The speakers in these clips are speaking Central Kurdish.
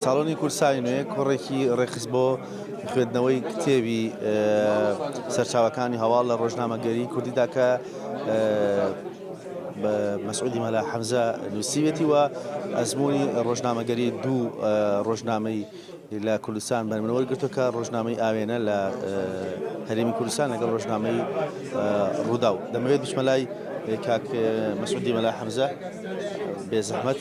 ساڵۆنی کورسای نوێ کۆڕێکی ڕێکخست بۆ خوێندنەوەی کتێبی سەرچاوەکانی هەواڵ لە ڕۆژنامەگەری کوردیدا کە بە مەسعودی مەلا حەمزە نووسیوێتی وە ئەزمموی ڕۆژنامەگەری دوو ڕۆژنامەی لە کوردستان بەرمنەوەی گرتوکە ڕۆژنامەی ئاوێنە لە هەرێمی کوردستان لەگەڵ ڕۆژنامەی ڕوودا و دەمەوێت بچمە لای کاک مەسعودی مەلا حەمزە بێزەحمەت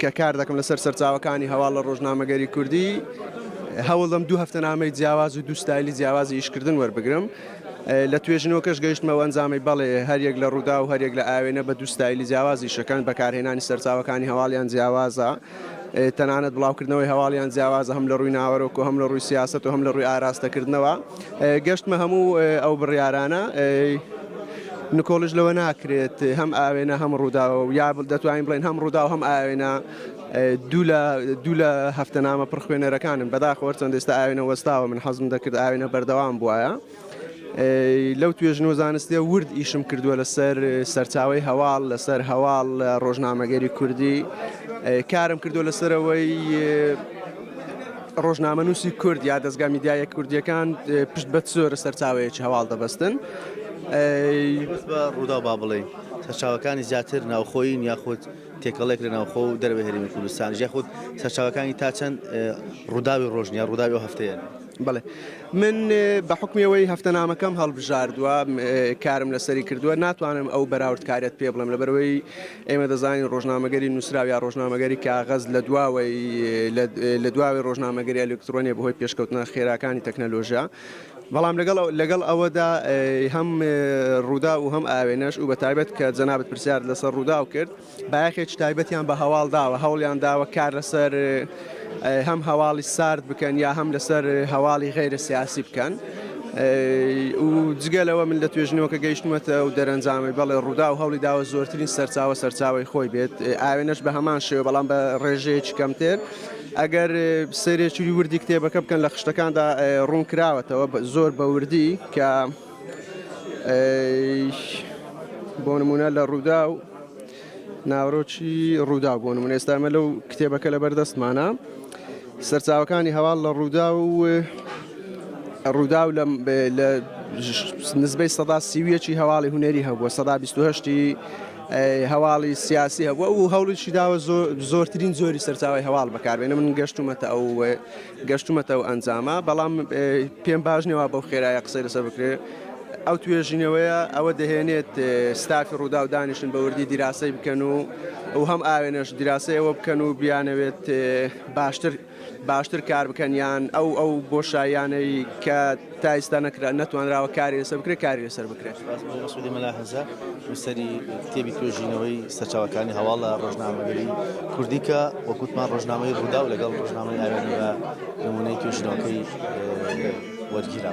کە کار دەکەم لەسەر سەرچاوەکانی هەواڵ لە ڕۆژنامەگەری کوردی، هەوڵدەم دوو هەفتەنامەی جیاواز و دوو ستایلی جیاوازی ئیشکردن وەربگرم. لە توێژینەوەکەش گەیشتمە ئەو ئەنجامەی بەڵێ، هەریەک لە ڕووداو و هەریەک لە ئاوێنە بە دوو ستایلی جیاواز ئیشەکەن، بەکارهێنانی سەرچاوەکانی هەواڵیان جیاوازە، تەنانەت بڵاوکردنەوەی هەواڵیان جیاوازە هەم لە ڕووی ناوەرۆک و هەم لە ڕووی سیاسەت و هەم لە ڕووی ئاراستەکردنەوە. گەشتمە هەموو ئەو بڕیارانە نکۆڵش لەوە ناکرێت هەم ئاوێنە هەم ڕووداوە و یا دەتوانین بڵێن هەم ڕوودا و هەم ئاوێنە دوو لە دوو لە هەفتە نامە پڕخوێنەرەکانم بەداخۆر چەند ئێستا ئاوێنە وەستاوە من حەزم دەکرد ئاوێنە بەردەوام بواە. لەو توێژن و زانستیە ورد ئیشم کردووە لەسەر سەرچاوی هەواڵ لەسەر هەواڵ ڕۆژنامەگەری کوردی کارم کردو لەسەرەوەی ڕۆژنامەنووسی کورد یا دەزگا میدیایە کوردیەکان پشت بە زۆرە سەرچاوەیەکی هەواڵ دەبەستن بە ڕوودا با بڵێ سەرچاوەکانی زیاتر ناوخۆین یاخود تێکەڵێک لە ناوخۆ و دەرەوە هەرمی کوردستان یاخود سەرچاوەکانی تا چەند ڕووداوی ڕۆژنیە ڕووداوی و هەفتەیە بڵێ من بە حکمیەوەی هەفتەنامەکەم هەڵبژاردووە کارم لەسەری کردووە ناتوانم ئەو بەراوردکارێت پێ بڵێم لەبەرەوەی ئێمە دەزانین ڕۆژنامەگەری نووسراو یا ڕۆژنامەگەری کاغەز لە دواوەی لە دواوەی ڕۆژنامەگەری ئەلکترۆنیە بەهۆی پێشکەوتنە خێراکانی تەکنەلۆژیا بەڵام لەگەڵ لەگەڵ ئەوەدا هەم ڕوودا و هەم ئاوێنەش و بە تایبەت کە جەنابەت پرسیار لەسەر ڕوودا و کرد بایەخێکی تایبەتیان بە هەواڵ داوە هەوڵیان داوە کار لەسەر هەم هەواڵی سارد بکەن یا هەم لەسەر هەواڵی غیرە سیاسی بکەن و جگەلەوە من لە توێژنەوەکە گەیشتمەتە و دەرەنجامی بەڵێ ڕوودا و هەولی داوە زۆرترین سەرچاوە سەرچاوی خۆی بێت ئاوێنەش بە هەمان شێوە بەڵام بە ڕێژەیەکی کەمتر ئەگەر سەرێکی وردی کتێبەکە بکەن لە خشتەکاندا ڕوون کراوەتەوە زۆر بە وردی کە بۆ نمونە لە ڕوودا و ناوەرۆکی ڕووداو، بۆ نموونە ئێستا ئێمە لەو کتێبە کە لەبەر دەستمانە، سەرچاوەکانی هەواڵ لە ڕووداو و ڕووداو لە نزبەی سەدا سیویەکی هەواڵی هونەری هەبووە سەدا بیستهشتی هەواڵی سیاسی هەبووە و هەوڵیشی داوە زۆرترین زۆری سەرچاوی هەواڵ بەکاربێنە من گەشتومەتە ئەو گەشتومەتە ئەو ئەنجامە بەڵام پێم باش نیە وا بەو خێرایە قسەی لەسەر بکرێ ئەو توێژینەوەیە ئەوە دەهێنێت ستافی ڕووداو دانیشن بە وردی دیراسەی بکەن و ئەو هەم ئاوێنەش دیراسەی ئەوە بکەن و بیانەوێت باشتر باشتر کار بکەن یان ئەو ئەو بۆشایانەی کە تا ئیستا نەکرا نەتوانراوە کاری لەسەر بکرێت کاری لەسەر بکرێت. سپاس بۆ مەسعودی مەلا هەزە نووسەری کتێبی توێژینەوەی سەرچاوەکانی هەواڵ لە ڕۆژنامەگەری کوردی کە وەکوتمان ڕۆژنامەی ڕووداو لەگەڵ ڕۆژنامەی ئاوێنە بە نمونەی توێژینەوەکەی وەرگیرا.